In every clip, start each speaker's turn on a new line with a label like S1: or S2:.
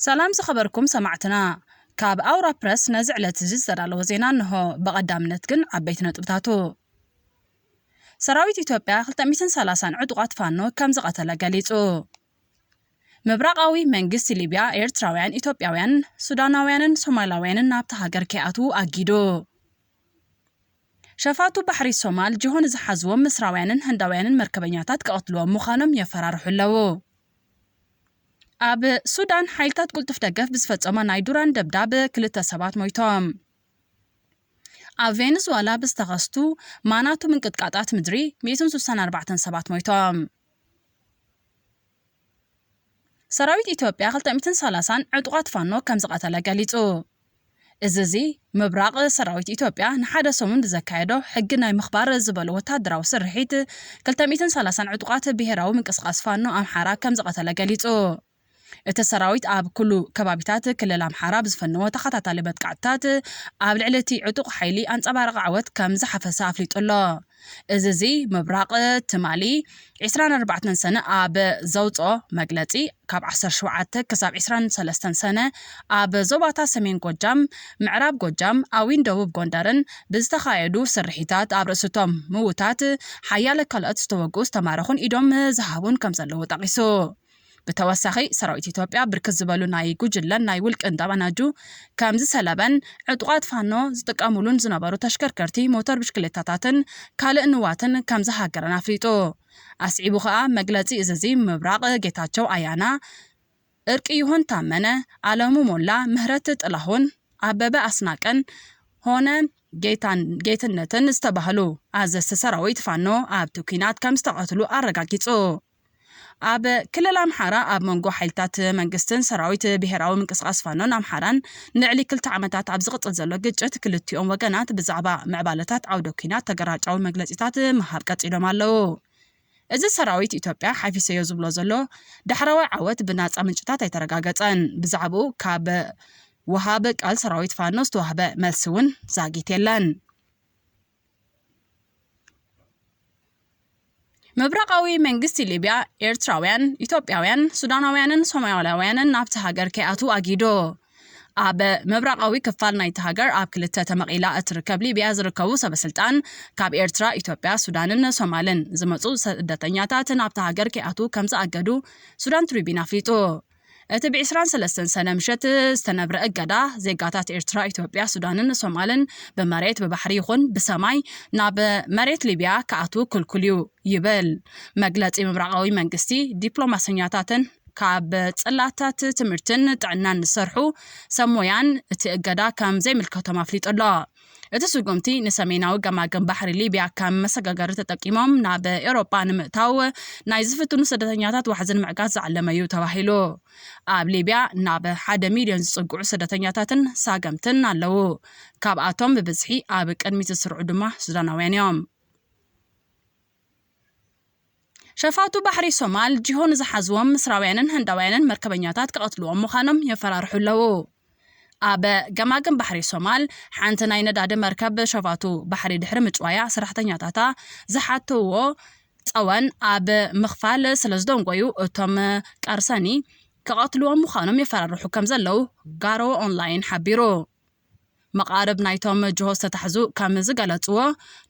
S1: ሰላም ዝኸበርኩም ሰማዕትና ካብ ኣውራ ፕረስ ነዚ ዕለት እዚ ዝተዳለወ ዜና እንሆ። ብቐዳምነት ግን ዓበይቲ ነጥብታቱ ሰራዊት ኢትዮጵያ 230 ዕጡቓት ፋኖ ከም ዝቐተለ ገሊጹ። ምብራቓዊ መንግስቲ ሊብያ ኤርትራውያን፣ ኢትዮጵያውያን፣ ሱዳናውያንን ሶማላውያንን ናብታ ሃገር ከይኣትዉ ኣጊዱ። ሸፋቱ ባሕሪ ሶማል ጅሆ ንዝሓዝዎም ምስራውያንን ህንዳውያንን መርከበኛታት ክቐትልዎም ምዃኖም የፈራርሑ ኣለዉ። ኣብ ሱዳን ሓይልታት ቅልጡፍ ደገፍ ብዝፈጸሞ ናይ ዱራን ደብዳብ ክልተ ሰባት ሞይቶም። ኣብ ቬንዙዋላ ብዝተኸስቱ ማናቱ ምንቅጥቃጣት ምድሪ 164 ሰባት ሞይቶም። ሰራዊት ኢትዮጵያ ክልተ ሚእትን ሰላሳን ዕጡቓት ፋኖ ከምዝቐተለ ገሊጹ። እዚ እዚ ምብራቕ ሰራዊት ኢትዮጵያ ንሓደ ሰሙን ብዘካየዶ ሕጊ ናይ ምኽባር ዝበሎ ወተሃደራዊ ስርሒት ክልተ ሚእትን ሰላሳን ዕጡቓት ብሄራዊ ምንቅስቓስ ፋኖ ኣምሓራ ከምዝቐተለ ገሊጹ። እቲ ሰራዊት ኣብ ኩሉ ከባቢታት ክልል ኣምሓራ ብዝፈነዎ ተኸታታሊ መጥቃዕትታት ኣብ ልዕሊ እቲ ዕጡቕ ሓይሊ ኣንጸባራቒ ዓወት ከምዝሓፈሰ ኣፍሊጡ ኣሎ። እዝዚ ምብራቕ ትማሊ ዕስራን ኣርባዕተን ሰነ ኣብ ዘውጽኦ መግለጺ ካብ ዓሰርተ ሸውዓተ ክሳብ ዕስራን ሰለስተን ሰነ ኣብ ዞባታት ሰሜን ጎጃም፣ ምዕራብ ጎጃም፣ ኣዊን ደቡብ ጎንደርን ብዝተኻየዱ ስርሒታት ኣብ ርእሲ'ቶም ምውታት ሓያለ ካልኦት ዝተወግኡ ዝተማረኹን ኢዶም ዝሃቡን ከምዘለዉ ጠቒሱ። ብተወሳኺ ሰራዊት ኢትዮጵያ ብርክት ዝበሉ ናይ ጉጅለን ናይ ውልቅን ጠበናጁ ከምዝሰለበን ዕጡቓት ፋኖ ዝጥቀሙሉን ዝነበሩ ተሽከርከርቲ ሞተር ብሽክሌታታትን ካልእ ንዋትን ከምዝሃገረን ኣፍሊጡ። ኣስዒቡ ከኣ መግለጺ እዝዚ ምብራቕ ጌታቸው ኣያና፣ እርቅይሁን ታመነ፣ ኣለሙ ሞላ፣ ምህረት ጥላሁን፣ ኣበበ ኣስናቀን ሆነ ጌትነትን ዝተባህሉ ኣዘዝቲ ሰራዊት ፋኖ ኣብቲ ኲናት ከምዝተቐትሉ ኣረጋጊጹ። ኣብ ክልል ኣምሓራ ኣብ መንጎ ሓይልታት መንግስትን ሰራዊት ብሄራዊ ምንቅስቓስ ፋኖን ኣምሓራን ንልዕሊ ክልተ ዓመታት ኣብ ዝቕፅል ዘሎ ግጭት ክልቲኦም ወገናት ብዛዕባ ምዕባለታት ዓውደ ኲናት ተገራጫዊ መግለፂታት ምሃብ ቀፂሎም ኣለዉ። እዚ ሰራዊት ኢትዮጵያ ሓፊሰዮ ዝብሎ ዘሎ ዳሕረዋይ ዓወት ብናፃ ምንጭታት ኣይተረጋገፀን። ብዛዕብኡ ካብ ወሃቢ ቃል ሰራዊት ፋኖ ዝተዋህበ መልሲ እውን ዛጊት የለን። ምብራቓዊ መንግስቲ ሊብያ ኤርትራውያን፣ ኢትዮጵያውያን፣ ሱዳናውያንን ሶማላውያንን ናብቲ ሃገር ከይኣትዉ ኣጊዱ። ኣብ ምብራቓዊ ክፋል ናይቲ ሃገር ኣብ ክልተ ተመቒላ እትርከብ ሊብያ ዝርከቡ ሰበስልጣን ካብ ኤርትራ፣ ኢትዮጵያ፣ ሱዳንን ሶማልን ዝመጹ ስደተኛታት ናብታ ሃገር ከይኣትዉ ከም ዝኣገዱ ሱዳን ትሪቢን ኣፍሊጡ። እቲ ብ ዕስራን ሰለስተን ሰነ ምሸት ዝተነብረ እገዳ፣ ዜጋታት ኤርትራ፣ ኢትዮጵያ፣ ሱዳንን ሶማልን ብመሬት፣ ብባሕሪ ይኹን ብሰማይ ናብ መሬት ሊብያ ክኣትዉ ክልኩል'ዩ ይብል መግለጺ ምብራቓዊ መንግስቲ። ዲፕሎማሰኛታትን ካብ ጽላታት ትምህርትን ጥዕናን ዝሰርሑ ሰብ ሞያን እቲ እገዳ ከም ዘይምልከቶም ኣፍሊጡ'ሎ። እቲ ስጉምቲ ንሰሜናዊ ገማግም ባሕሪ ሊብያ ከም መሰጋገሪ ተጠቂሞም ናብ ኤውሮጳ ንምእታው ናይ ዝፍትኑ ስደተኛታት ዋሕዚ ንምዕጋት ዝዓለመ እዩ ተባሂሉ። ኣብ ሊብያ ናብ ሓደ ሚልዮን ዝጽግዑ ስደተኛታትን ሳገምትን ኣለዉ። ካብኣቶም ብብዝሒ ኣብ ቅድሚት ዝስርዑ ድማ ሱዳናውያን እዮም። ሸፋቱ ባሕሪ ሶማል ጂሆ ንዝሓዝዎም ምስራውያንን ህንዳውያንን መርከበኛታት ክቐትልዎም ምዃኖም የፈራርሑ ኣለዉ። ኣብ ገማግም ባሕሪ ሶማል ሓንቲ ናይ ነዳዲ መርከብ ሸፋቱ ባሕሪ ድሕሪ ምጭዋያ ሰራሕተኛታታ ዝሓተዎ ጸወን ኣብ ምኽፋል ስለዝደንጎዩ እቶም ቀርሰኒ ክቐትልዎም ምዃኖም የፈራርሑ ከምዘለዉ ጋሮ ኦንላይን ሓቢሩ። መቓርብ ናይቶም ጅሆ ዝተታሕዙ ከም ዝገለጽዎ፣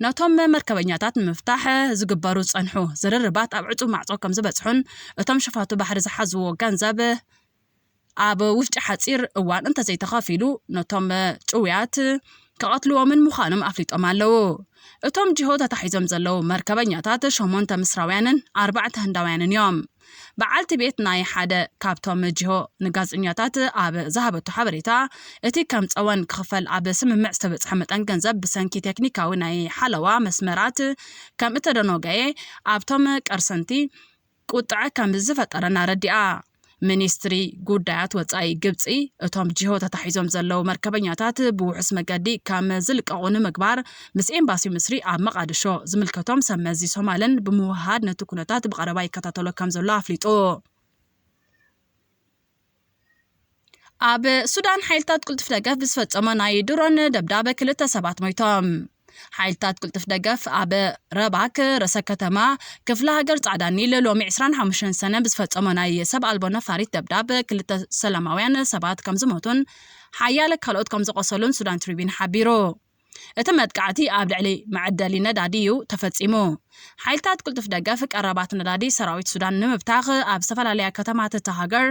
S1: ነቶም መርከበኛታት ንምፍታሕ ዝግበሩ ዝጸንሑ ዝርርባት ኣብ ዕጹው ማዕጾ ከም ዝበጽሑን እቶም ሸፋቱ ባሕሪ ዝሓዝዎ ገንዘብ ኣብ ውሽጢ ሓጺር እዋን እንተዘይተኸፊሉ ነቶም ጭውያት ክቐትልዎምን ምዃኖም ኣፍሊጦም ኣለዉ። እቶም ጅሆ ተታሒዞም ዘለዉ መርከበኛታት ሸሞንተ ምስራውያንን ኣርባዕተ ህንዳውያንን እዮም። በዓልቲ ቤት ናይ ሓደ ካብቶም መጂሆ ንጋዜጠኛታት ኣብ ዝሃበቶ ሓበሬታ፣ እቲ ከም ጸወን ክኽፈል ኣብ ስምምዕ ዝተበጽሐ መጠን ገንዘብ ብሰንኪ ቴክኒካዊ ናይ ሓለዋ መስመራት ከም እተደኖገየ ኣብቶም ቀርሰንቲ ቁጥዐ ከም ዝፈጠረን ኣረዲኣ። ሚኒስትሪ ጉዳያት ወጻኢ ግብጺ፣ እቶም ጂሆ ተታሒዞም ዘለዉ መርከበኛታት ብውሑስ መገዲ ከም ዝልቀቑ ንምግባር ምስ ኤምባሲ ምስሪ ኣብ መቓድሾ ዝምልከቶም ሰብ መዚ ሶማልን ብምውህሃድ ነቲ ኩነታት ብቐረባ ይከታተሎ ከምዘሎ ኣፍሊጡ። ኣብ ሱዳን ሓይልታት ቅልጡፍ ደገፍ ብዝፈጸሞ ናይ ድሮን ደብዳበ ክልተ ሰባት ሞይቶም። ሓይልታት ቅልጡፍ ደገፍ ኣብ ረባክ ርእሰ ከተማ ክፍለ ሃገር ጻዕዳ ኒል ሎሚ 25 ሰነ ብዝፈጸሞ ናይ ሰብ ኣልቦ ነፋሪት ደብዳብ ክልተ ሰላማውያን ሰባት ከም ዝሞቱን ሓያለ ካልኦት ከም ዝቖሰሉን ሱዳን ትሪቢን ሓቢሩ። እቲ መጥቃዕቲ ኣብ ልዕሊ መዐደሊ ነዳዲ እዩ ተፈጺሙ። ሓይልታት ቅልጡፍ ደገፍ ቀረባት ነዳዲ ሰራዊት ሱዳን ንምብታኽ ኣብ ዝተፈላለያ ከተማታት እታ ሃገር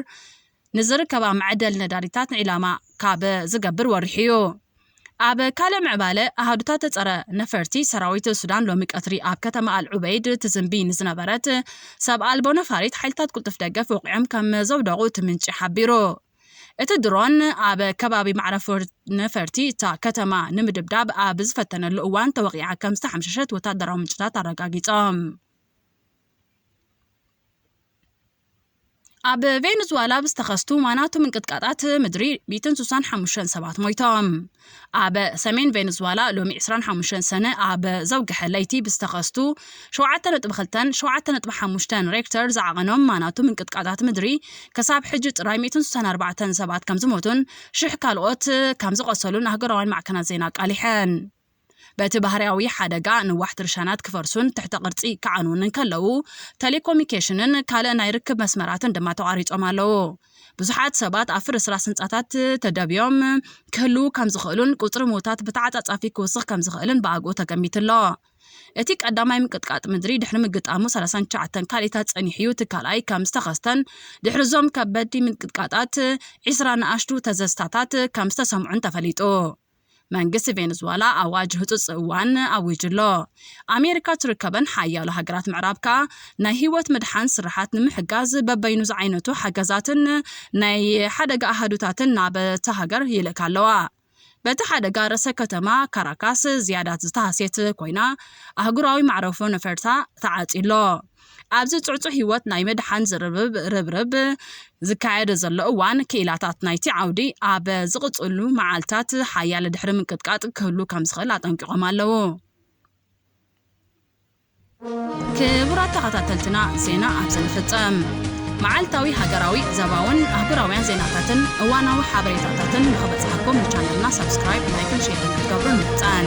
S1: ንዝርከባ መዐደሊ ነዳዲታት ዒላማ ካብ ዝገብር ወሪሑ እዩ። ኣብ ካልእ ምዕባለ ኣሃዱታት ጸረ ነፈርቲ ሰራዊት ሱዳን ሎሚ ቀትሪ ኣብ ከተማ ኣል ዑበይድ ትዝንቢ ንዝነበረት ሰብ ኣልቦ ነፋሪት ሓይልታት ቅልጡፍ ደገፍ ወቒዖም ከም ዘውደቑ እቲ ምንጪ ሓቢሩ። እቲ ድሮን ኣብ ከባቢ መዕረፎ ነፈርቲ እታ ከተማ ንምድብዳብ ኣብ ዝፈተነሉ እዋን ተወቒዓ ከም ዝተሓምሸሸት ወታደራዊ ምንጭታት ኣረጋጊጾም። ኣብ ቬንዙዋላ ብዝተኸስቱ ዋናቱ ምንቅጥቃጣት ምድሪ ሚእትን ስሳን ሓሙሽተን ሰባት ሞይቶም። ኣብ ሰሜን ቬንዙዋላ ሎሚ 25 ሰነ ኣብ ዘውግሐ ለይቲ ብዝተኸስቱ 7.2ን 7.5ን ሬክተር ዝዓቐኖም ማናቱ ምንቅጥቃጣት ምድሪ ክሳብ ሕጂ ጥራይ 164 ሰባት ከም ዝሞቱን ሽሕ ካልኦት ከም ዝቖሰሉን ኣህገራውያን ማዕከናት ዜና ኣቃሊሐን። በቲ ባህርያዊ ሓደጋ ንዋሕቲ ርሻናት ክፈርሱን ትሕተ ቅርጺ ክዓንዉን እንከለዉ፣ ተሌኮሚኬሽንን ካልእ ናይ ርክብ መስመራትን ድማ ተቋሪጾም ኣለዉ። ብዙሓት ሰባት ኣብ ፍርስራስ ህንጻታት ተደብዮም ክህልዉ ከም ዝኽእሉን ቁጽሪ ምዉታት ብተዓጻጻፊ ክውስኽ ከም ዝኽእልን ብኣግኡ ተገሚቱ ኣሎ። እቲ ቀዳማይ ምንቅጥቃጥ ምድሪ ድሕሪ ምግጣሙ ሰላሳን ትሽዓተን ካልኢታት ጸኒሑ'ዩ፣ እቲ ካልኣይ ከም ዝተኸስተን ድሕሪ'ዞም ከበድቲ ምንቅጥቃጣት ዒስራ ንኣሽቱ ተዘዝታታት ከም ዝተሰምዑን ተፈሊጡ። መንግስቲ ቬነዝዋላ ኣዋጅ ህጹጽ እዋን ኣዊጁ ኣሎ። ኣሜሪካ እትርከበን ሓያሎ ሃገራት ምዕራብ ከኣ ናይ ህይወት ምድሓን ስርሓት ንምሕጋዝ በበይኑ ዝዓይነቱ ሓገዛትን ናይ ሓደጋ ኣሃዱታትን ናብታ ሃገር ይልእካ ኣለዋ። በቲ ሓደጋ ርእሰ ከተማ ካራካስ ዝያዳ ዝተሃስየት ኮይና፣ ኣህጉራዊ መዕረፎ ነፈርታ ተዓጽዩ ኣሎ። ኣብዚ ጽዕጹዕ ህይወት ናይ ምድሓን ዝርርብ ርብርብ ዝካየደ ዘሎ እዋን፣ ክኢላታት ናይቲ ዓውዲ ኣብ ዝቕጽሉ መዓልታት ሓያለ ድሕሪ ምንቅጥቃጥ ክህሉ ከም ዝኽእል ኣጠንቂቖም ኣለዉ። ክቡራት ተኸታተልትና ዜና ኣብዚ ንፍጸም። መዓልታዊ ሃገራዊ፣ ዘባውን ኣህጉራውያን ዜናታትን እዋናዊ ሓበሬታታትን ንኽበጽሓኩም ንቻነልና ሳብስክራይብ፣ ላይክን ሼርን ክትገብሩ ንምሕጸን።